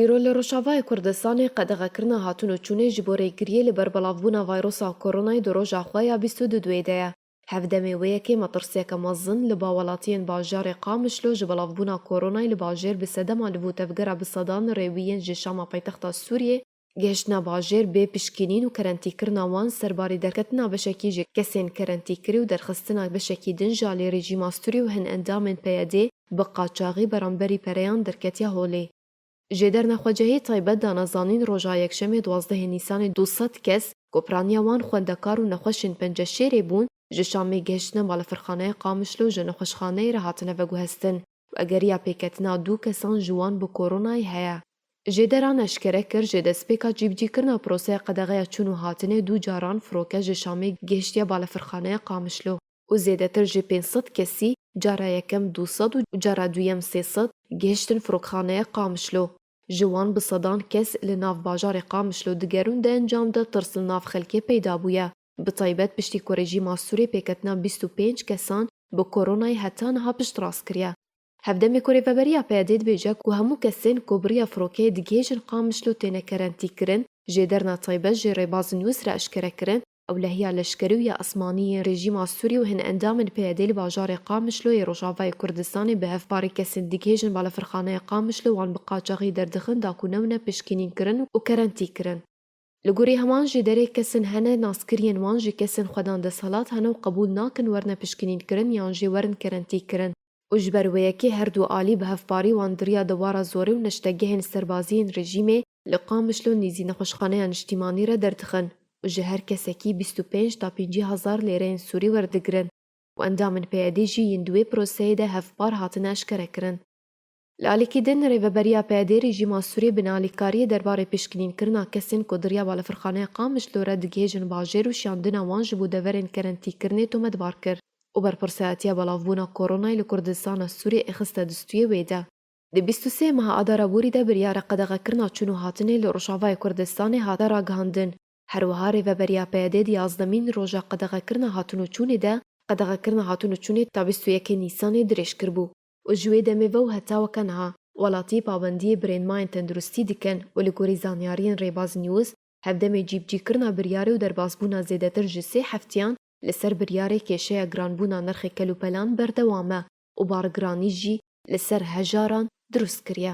Îro li Rojavayê Kurdistanê qedexekirina hatûn û çûnê ji bo rêgiriyê li ber belavbûna vayrosa koronayê di roja xwe ya bîst û du duê de ye. Hev demê wê yekê metirsiyeke mezin li ba welatiyên bajarê Qamişlo ji belavbûna koronayê li bajêr bi sedema li vû tevgera bi sedan rêwî yên ji Şama paytexta Sûriyê, Gihiştina bajêr bê pişkînîn û kerentîkirina wan serbarê derketina beşekî ji kesên kerentîkirî û derxistina beşekî din ji alî rejîma Sûrî û hin endamên PYDê bi qaçaxî beramberî pereyan derketiya holê. Ji derna xwecehî taybet dana zanîn roja yekşemê duwazdehê nîsanê du sed kes ku piraniya wan xwendekar û nexweşên Penceşêrê bûn ji Şamê gihiştine balafirxaneya Qamişlo ji nexweşxaneyê re hatine veguhestin. Ageriya pêketina du kesan ji wan bi koronayê heye. Jêderan eşkere kir ji destpêka cîbicîkirina proseya qedexeya çûn û hatinê du caran firoke ji Şamê gihiştiye balefirxaneya Qamişlo û zêdetir ji pênc sed kesî, cara yekem du sed û cara duyem sê sed, gihiştin firokxaneya Qamişlo. Ji wan bi sedan kes li nav bajarê Qamişlo digerûn di encam de tirs li nav xelkê peyda bûye. Bi taybet piştî ku rejîma Sûrê pêketina bîst û pênc kesan bi koronayê heta niha piştrast kiriye. Hevdemê ku rêveberiya PYD'ê dibêje ku hemû kesên ku bi riya firokeyê digihêjin Qamişlo têne kerentîkirin, jêderna taybet jê rêbazên Wis re eşkere kirin, ewlehiya leşkerî û ya esmanî yên rejîma Sûrê û hin endamên PYD'ê li bajarê Qamişlo yê Rojavayê Kurdistanê bi hevparê kesên digihêjin balafirxaneya Qamişlo wan bi qaçaxî derdixin da ku newne pişkînînkirin û kerentîkirin. Li gorî heman jî derê kesin hene naskiriyên wan ji kesên xwe dan desthilat hene û qebûl nakin werne pişkinînkirin yan jî werin kerentîkirin û ji ber wê yekê her du alî bi hevparî wan diriya dewara zorê û neştegehên serbaziyên rejîmê li Qamişlo nîzî nexweşxaneya niştîmanî re derdixin û ji her kesekî bîst û pênc ta pêncî hezar lêreyên sûrî werdigirin û endamên PYD'ê jî yên di wê proseyê de hevpar hatine eşkerekirin. Li alîkî din, Rêveberiya PYD'ê rejîma Sûrê bi nealîkariyê derbarê pişkinînkirina kesên ku diriya balafirxaneya Qamiş li were digihêjin bajêr û şiyandina wan ji bo deverên kerentîkirinê tometbar kir û berpirsiyatiya belavbûna koronayê li Kurdistana Sûrê ê xiste distûyê wê de. Di bîst û sê meha Adara borî de biryara qedexekirina çûn û hatinê li Rojavayê Kurdistanê hate ragihandin. Her wiha Rêveberiya PYD'ê di yazdemîn roja qedexekirina hatin û çûnê de qedexekirina hatin û çûnê ta bîst û yekê Nîsanê dirêj kiribû. û ji wê demê ve û heta weke niha welatî pabendiyê birênmayên tenduristî dikin û li gorî zanyariyên Rêbaz News hevdemê cîbicîkirina biryarê û derbasbûna zêdetir ji sê heftiyan li ser biryarê kêşeya giranbûna nirxê kelûpelan berdewam e û bargiranî jî li ser hejaran dirust kiriye.